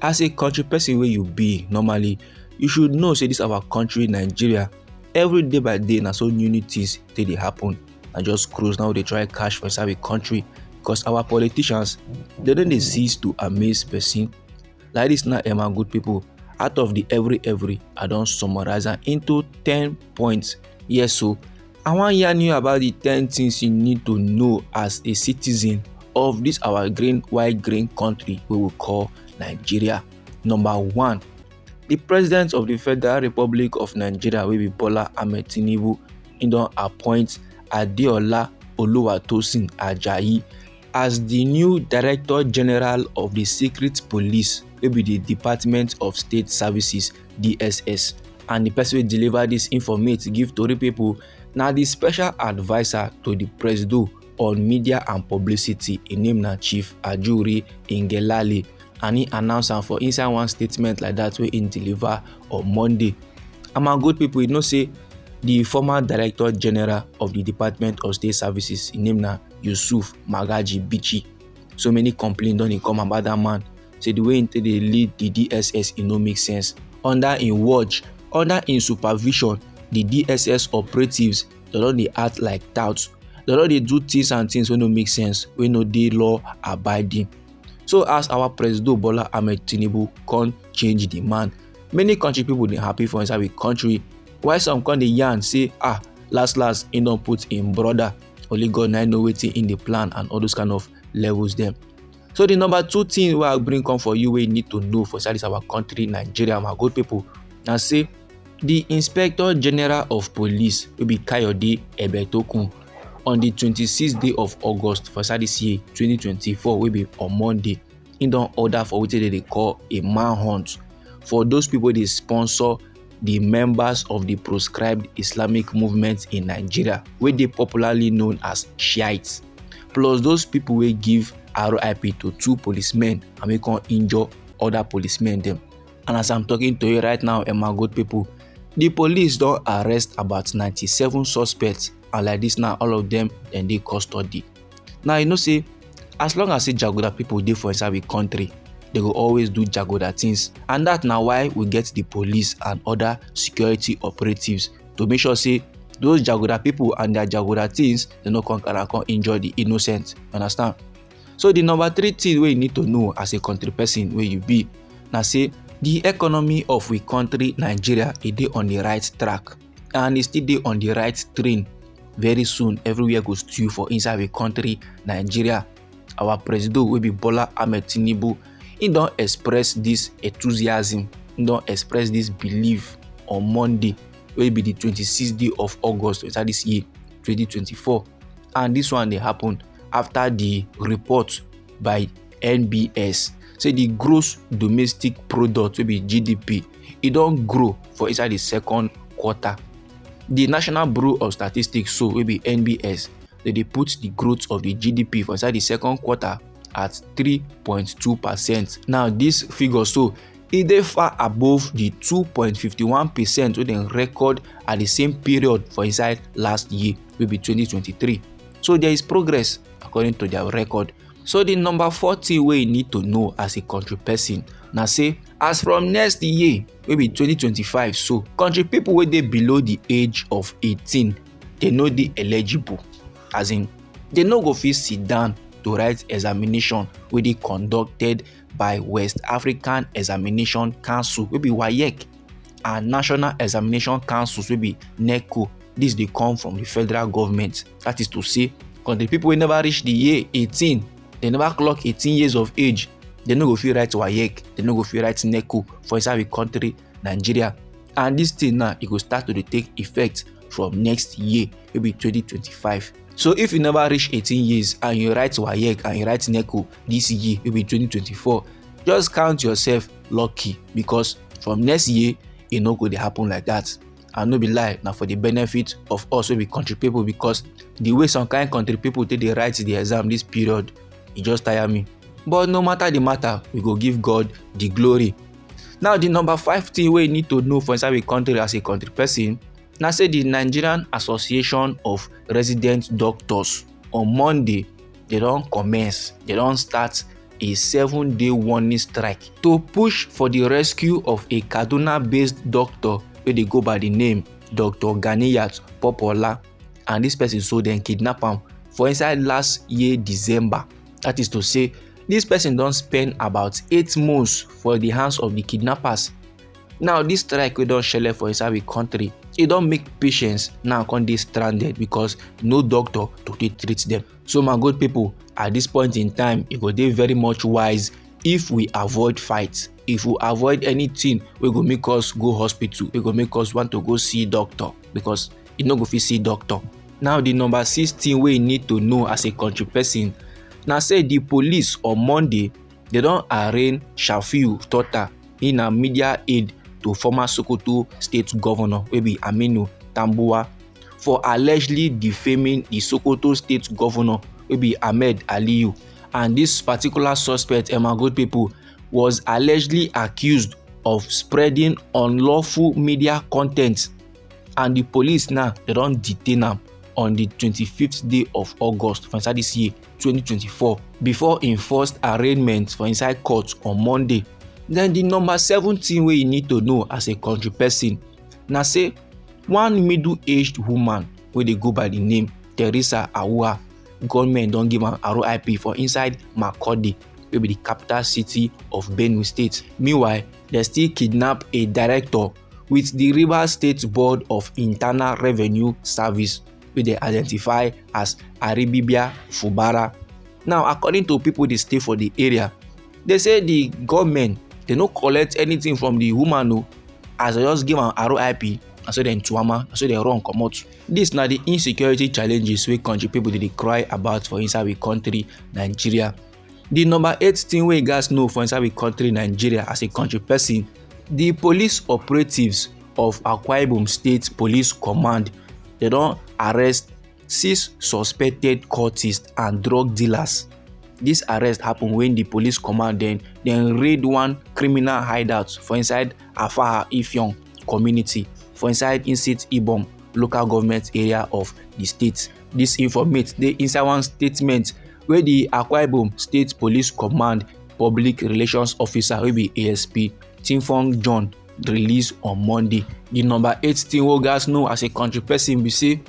as a country person wey you be normally you should know say this our country nigeria every day by day na so new new things dey dey happen na just cruise now dey try cash for inside the country because our politicians they don dey cease to amaze person like this na emma good people out of the every every i don summarize am into ten point yes so i wan yarn you about the 10 things you need to know as a citizen of this our green white green country we will call nigeria number one the president of the federal republic of nigeria will be bola ahmed tinubu he don appoint adeola oluwatosin ajayi as the new director general of the secret police wey be di department of state services dss and di person wey deliver dis informate give tori pipo na di special adviser to di presido on media and publicity im name na chief ajuri ngelale and im announce am for inside one statement like dat wey im deliver on monday and my good pipo you know say di former director general of di department of state services im name na yusuf magaji bichi so many complaints don dey come about dat man say the way he take dey lead the dss e no make sense under im watch under im supervision the dss operatives dem don dey act like touts dem don dey do things and things wey no make sense wey no dey law abiding so as our president bola ahmed tinubu come change the man many country people dey happy for inside the country while some come dey yarn say ah last last he don put im brother only god na know wetin im dey plan and all those kind of levels dem So the number two thing wey I bring come for you wey you need to know for inside this our country Nigeria my good people na say the Inspector General of Police wey be Kayode Ebetokun on the 26th day of August for inside this year 2024 wey be on Monday he don order for wetin dem dey call a manhunt for those people wey dey sponsor di members of di proscribed islamic movement in nigeria wey dey popularly known as shiites plus those pipo wey give rip to two policemen and wey come injure oda policemen dem and as i'm talking to you right now emma good pipo di police don arrest about 97 suspects and like dis now all of dem dem dey custody now you know say as long as say jagoda people dey for inside we country they go always do jagoda things and that na why we get the police and other security operatives to make sure say those jagoda people and their jagoda things they no come carry come injure the innocent understand so the number three thing wey you need to know as a country person wey you be na say the economy of we country nigeria e dey on the right track and e still dey on the right train very soon everywhere go stew for inside the country nigeria our presido wey be bola ahmed tinubu he don express this enthusiasm he don express this belief on monday wey be the 26th day of august inside this year 2024 and this one dey happen after the report by nbs say di gross domestic product wey be gdp e don grow for inside di second quarter di national bureau of statistics so wey be nbs dem dey put di growth of di gdp for inside di second quarter at 3.2 percent now dis figure so e dey far above di 2.51 percent wey dem record at di same period for inside last year wey be 2023 so there is progress according to dia record So the number four thing wey you need to know as a country person na say as from next year wey be 2025 so country people wey dey below the age of 18 dey no dey eligible as in dey no go fit sit down to write examination wey dey conducted by west african examination council wey be waec and national examination councils wey be neco dis dey come from the federal government that is to say because the people wey never reach the year eighteen they never clock eighteen years of age they no go fit write waec they no go fit write neco for inside the country nigeria and this thing now e go start to dey take effect from next year wey be twenty twenty five so if you never reach eighteen years and you write waec and you write neco this year wey be twenty twenty four just count yourself lucky because from next year e no go dey happen like that and no be lie na for the benefit of us wey be country people because the way some kind country people take dey write the exam this period e just tire me but no matter the matter we go give god the glory now the number five thing wey you need to know for inside the country as a country person na say the nigerian association of resident doctors on monday dey don commence dey don start a seven-day warning strike to push for di rescue of a kaduna-based doctor wey dey go by di name dr ganiyat popola and dis person so dem kidnap am for inside last year december that is to say dis person don spend about eight months for di hands of di kidnappers now this strike we don't shell for inside the country It don't make patients now come dey stranded because no doctor to dey treat them. so my good people at this point in time it go dey very much wise if we avoid fights if we avoid anything we go make us go hospital we go make us want to go see doctor because you no go fit see doctor now the number six thing wey you need to know as a country person na say the police on monday dem don arraign shafiu totta he na media aide to former sokoto state govnor wey be aminu tambuwal for allegedly defaming di sokoto state govnor wey be ahmed aliyu and dis particular suspect among good pipo was allegedly accused of spreading unlawful media content and di police now dem don detain am on di twenty fifth day of august for inside dis year. 2024 before im first arraignment for inside court on monday then di number seven thing wey you need to know as a country person na say one middle-aged woman wey dey go by di name theresa awuah gunmen don give am rip for inside makurdi wey be di capital city of benue state meanwhile dem still kidnap a director wit di rivers state board of internal revenue service wey dem identify as aribibia fubara now according to people dey stay for the area they say the gunmen dey no collect anything from the woman o as they just give am rip na so dem tuama na so dem run comot this na the insecurity challenges wey country people dey dey cry about for inside we country nigeria The number eight thing wey you guys know for inside the country Nigeria as a country person, the police operatives of Akwa Ibom State Police Command, they don arrest six suspected cultists and drug dealers. This arrest happen when the police command dem dem raid one criminal hideout for inside Afaha Ifyong community for inside Insit Ibom local government area of the state. This informate dey inside one statement wey di akwa ibom state police command public relations officer wey be asp tinfong john release on monday di number eight tin wey gatz know as a kontri pesin be say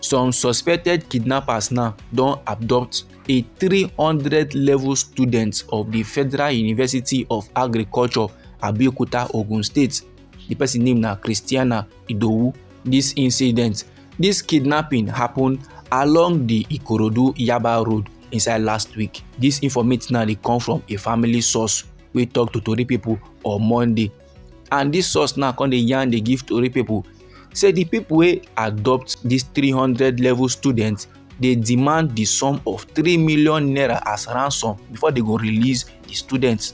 some suspected kidnappers now don abduct a 300 level student of di federal university of agriculture abeokuta ogun state di pesin name na christiana idowu dis incident dis kidnapping happen along di ikorodu yaba road inside last week dis informate now dey come from a family source wey tok to tori pipo on monday and dis source now come dey yarn dey give tori pipo say di pipo wey adopt dis 300 level students dey demand di sum of 3 million naira as ransom before dey go release di students.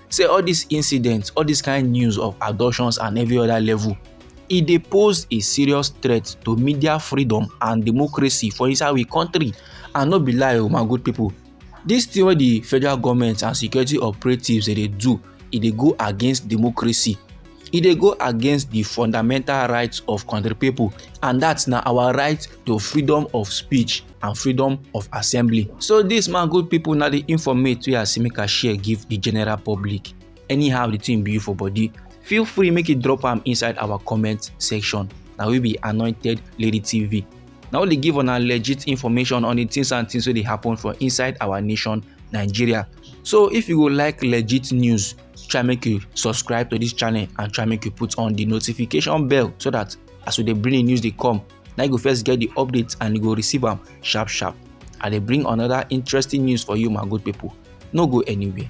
say all dis incidents all dis kain news of abductions and every oda level e dey pose a serious threat to media freedom and democracy for inside we kontri and no be lie o oh, my good pipo dis tin wey di federal goment and security operatives dey do e dey go against democracy e dey go against di fundamental rights of kontri pipo and dat na our right to freedom of speech and freedom of assembly so dis man good pipo na di informate wey i see make i share give di general public anyhow di thing be you for body feel free make you drop am inside our comment section na we be anointed lady tv na only give una legit information on di things and things wey dey happen for inside our nation nigeria so if you go like legit news try make you subscribe to this channel and try make you put on the notification bell so that as we dey bring the news dey come na you go first get the updates and you go receive am sharp sharp i dey bring another interesting news for you my good people no go anywhere